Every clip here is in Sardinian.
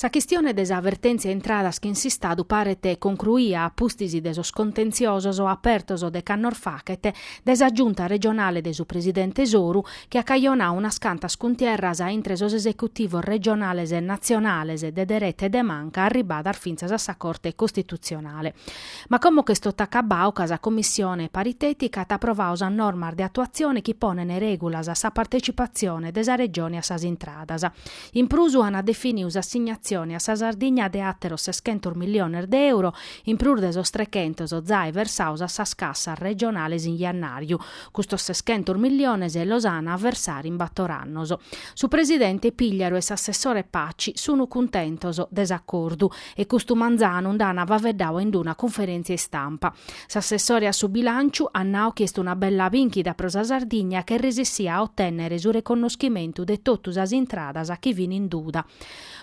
Sa chistione de sa vertèntzia intradas chin s'Istadu paret concruia a pustis de sos contenziosos apertos dec'annos fachet dae sa giunta regionale de su presidente Soru chi at cajonau unas cantas cuntierras intre sos esecutivos regionales e natzionales de dereta e de manca arribadas fintzas a sa Corte Costitutzionale. Ma como ch'est totu acabau ca sa Commissione paritètica at aprovau sas normas de atuatzione chi ponent règulas a sa partecipatzione de sa Regione a sas intradas, In prus ant definiu s'assignatzione a sa Sardigna de àteros seschentos milliones de euro, in prus de sos trechentos zai versaos a sas cassas regionales in jannàriu. Custos seschentos milliones los an a versare in bator annos. Su presidente Pigliaru e s'assessore Paci sunu cuntentos de s'acordu e custu manzanu nd'an faveddau in d'una cunferèntzia istampa. S'assessore a su bilànciu at nau chi est una bella bìnchida pro sa Sardigna ch'est resessia a otènnere su reconnoschimentu de totu sas intradas chi fin in duda.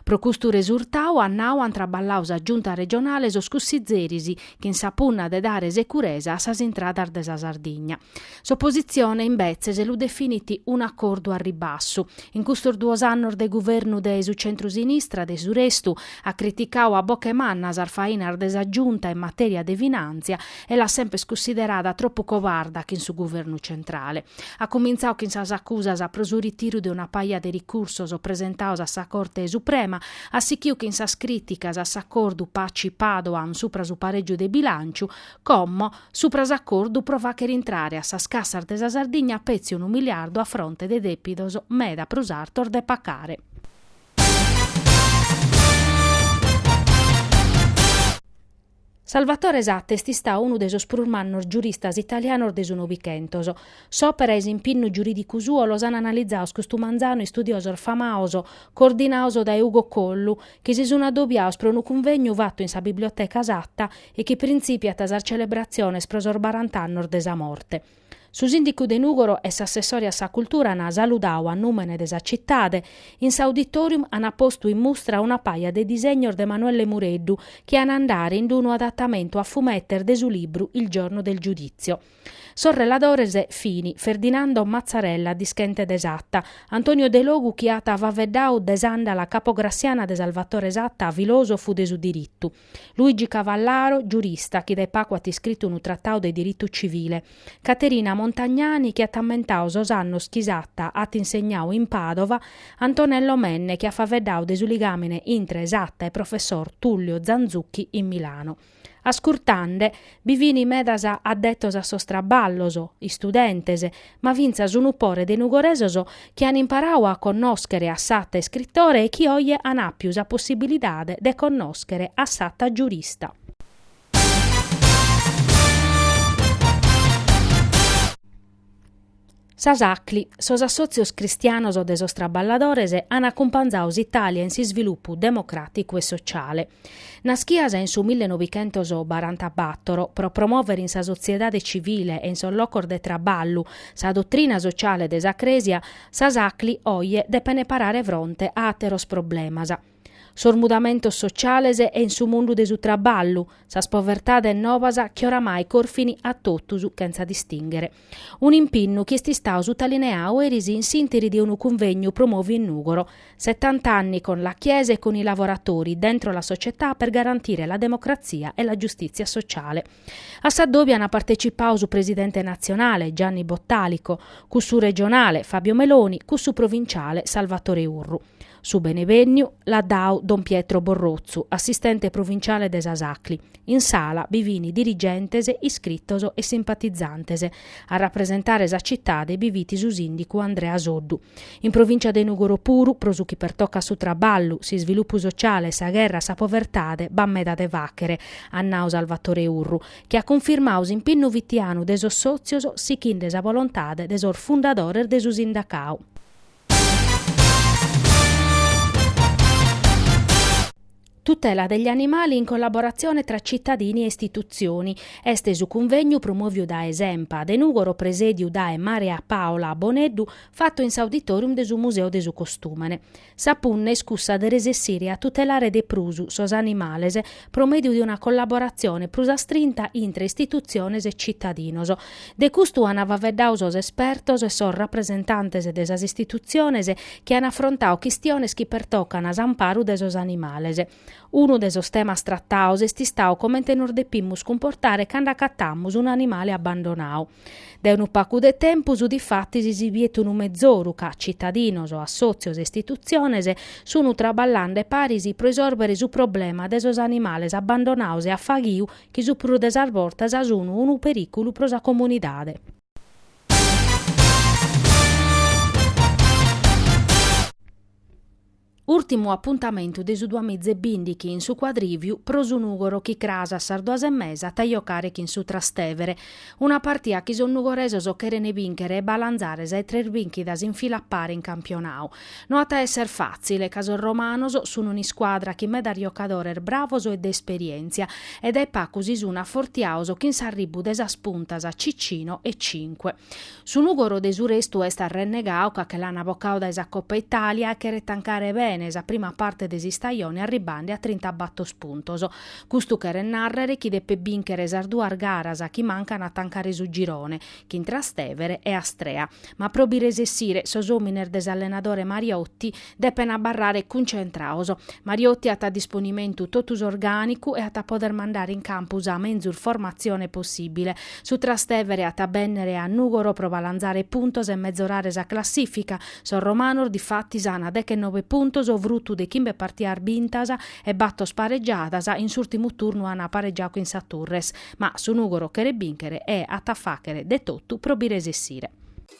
Pro custu resurtau, at nau, ant traballau sa Giunta regionale e sos cussizeris chin sa punna de dare securesa a sas intradas de sa Sardigna. S'opositzione, imbetzes, lu definit un'acordu a ribassu. In custos duos annos de guvernu de su centru-sinistra, de su restu, at criticau a boche manna sas fainas de sa Giunta in matèria de finàntzia e l'at semper cunsiderada tropu cobarda chin su guvernu centrale. At cumintzau chin sas acusas pro su ritiru de una paja de ricursos presentaos a sa Corte Suprema, at sichiu chin sas crìticas a s'acordu Paci-Padoan supra su parègiu de bilànciu, Como, supra s'acordu pro fàchere intrare a sas cassas de sa Sardigna petzi unu miliardu a fronte de dèpidos meda prus artos de pacare. Salvatore Satta est istau unu de sos prus mannos giuristas italianos de su Novichentos. S'òpera e s'impinnu giurìdicu suo los an analizaos custu manzanu istudiosos famaos, coordinaos dae Ugo Collu, chi si sun adobiaos pro unu cunvegnu fatu in sa Biblioteca Satta, e chi printzìpiat sas celebratziones pro sos barant'annos de sa morte. Su sìndicu de Nùgoro e s'assessore a sa cultura ant saludau a nùmene de sa citade, in s'auditorium ant postu in mustra una paja de disegnos de Manuelle Mureddu chi ant a andare in d'unu adatamentu a fumetes de su libru Il giorno del giudizio. Sos reladores fin, Ferdinando Mazzarella dischente de Satta, Antonio Delogu chi at faveddau de s'àndala capograssiana de Salvatore Satta filòsofu de su diritu, Luigi Cavallaro, giurista chi dae pacu at iscritu unu tratau de diritu civile. Caterina Montagnani chi at ammentau sos annos chi Satta at insegnau in Pàdova, Antonello Menne chi at faveddau de su ligàmine intre Satta e professor Tullio Zanzucchi in Milano. Ascurtande, bi fin medas addetos a sos traballos, istudentes, ma fintzas unu pore de nugoresos chi an imparau a connòschere a Satta iscritore e chi oje an àpiu sa possibilidade de connòschere a Satta giurista. Sas Acli, sos assòtzios cristianos de sos traballadores an acumpanzau s'Itàlia in s'isvilupu democràticu e sociale. Nàschias in su millenovichentos barantabatoro, pro promòvere in sa sotziedade civile e in sos locos de traballu sa dotrina sociale de sa Crèsia, sas Acli oje depene parare fronte a àteros problemas. Sos mudamentos sociales e in su mundu de su traballu, sas povertades novas chi oramai corfin a totus chentza distìnghere. un'impinnu chi est istau sutalineau eris in s'interi de unu cunvegnu promòviu in Nùgoro, Settanta anni con la Chiesa e con i lavoratori, dentro la società per garantire la democrazia e la giustizia sociale. A s'addòbiu ana partecipau su presidente natzionale, Gianni Bottalico, cussu regionale, Fabio Meloni, cussu provinciale, Salvatore Urru. Su benevènniu l'at dau don Pietro Borrotzu, assistente provinciale de sas Acli. In sala bi fini dirigentes, iscritos e simpatizantes. A rapresentare sa citade bi fit su sìndicu Andrea Soddu. In provincia de Nùgoro puru, pro su chi pertocat su traballu, s'isvilupu sociale e sa gherra a sa povertade, b'at meda de fàghere, at nau Salvatore Urru, chi at cunfirmau s'impinnu fitianu de sos sòtzios sichinde sa volontade de sos fundadores de su sindacau. Tutela degli animali in collaborazione tra cittadini e istituzioni. Est su cunvegnu promòviu dae s'Enpa de Nùgoro presèdiu dae Maria Paola Boneddu, fatu in s'auditorium de su Museu de su Costùmene. Sa punna est cussa de resessire a tutelare de prus sos animales pro mèdiu de una collaboratzione prus astrinta intre istitutziones e citadinos. De custu an faveddau sos espertos e sos rapresentantes de sas istitutziones chi an afrontau chistiones chi pertocan s'amparu de sos animales. Unu de sos temas trataos est istau comente nos depimus cumportare cando acatamus un'animale abbandonau. Dae unu pacu de tempus, difatis, si biet unu mezoru ca citadinos, assòtzios e istitutziones sun traballende paris pro isòrbere su problema de sos animales abbandonados e a faghiu chi su prus de sas bortas sun unu perìculu pro sa comunidade. Ùrtimu apuntamentu de su duamiza e bìndichi in su Cuadrìviu pro su Nùgoro chi cras a sas duas e mesa at a jocare chin su Trastevere, una partia chi sos nugoresos cheren bìnchere e balanzare sa 'e tres bìnchidas in fila a pare in campionau. No at a èssere fàtzile ca sos romanos sun un'iscuadra chin medas jocadores bravos e de esperièntzia e dae pacu si sun afortiaos chin s'arribbu de sas puntas Cicino e Cinque. Su Nùgoro de su restu est arrennegau ca che l'an bocau dae sa Coppa Italia e cheret tancare bene sa prima parte de s'istajone arribbende a trinta batos puntos. Custu cheret nàrrere chi depet bìnchere sas duas garas chi mancan a tancare su girone, chin Trastevere e Astrea. Ma pro bi resessire, sos òmines de s'allenadore Mariotti Depen abarrare cuncentraos. Mariotti at a disponimentu totu s'orgànicu e at a poder mandare in campu sa menzus formatzione possìbile. Su Trastevere at a bènnere a Nùgoro pro balanzare puntos e mezorare sa classìfica. Sos romanos difatis an dechenobe puntos frutu de chimbe partias bintas e batos paregiadas, in s'ùrtimu turnu an paregiau chin sa Turres. Ma su Nùgoro cheret bìnchere e at a fàchere de totu pro bi resessire.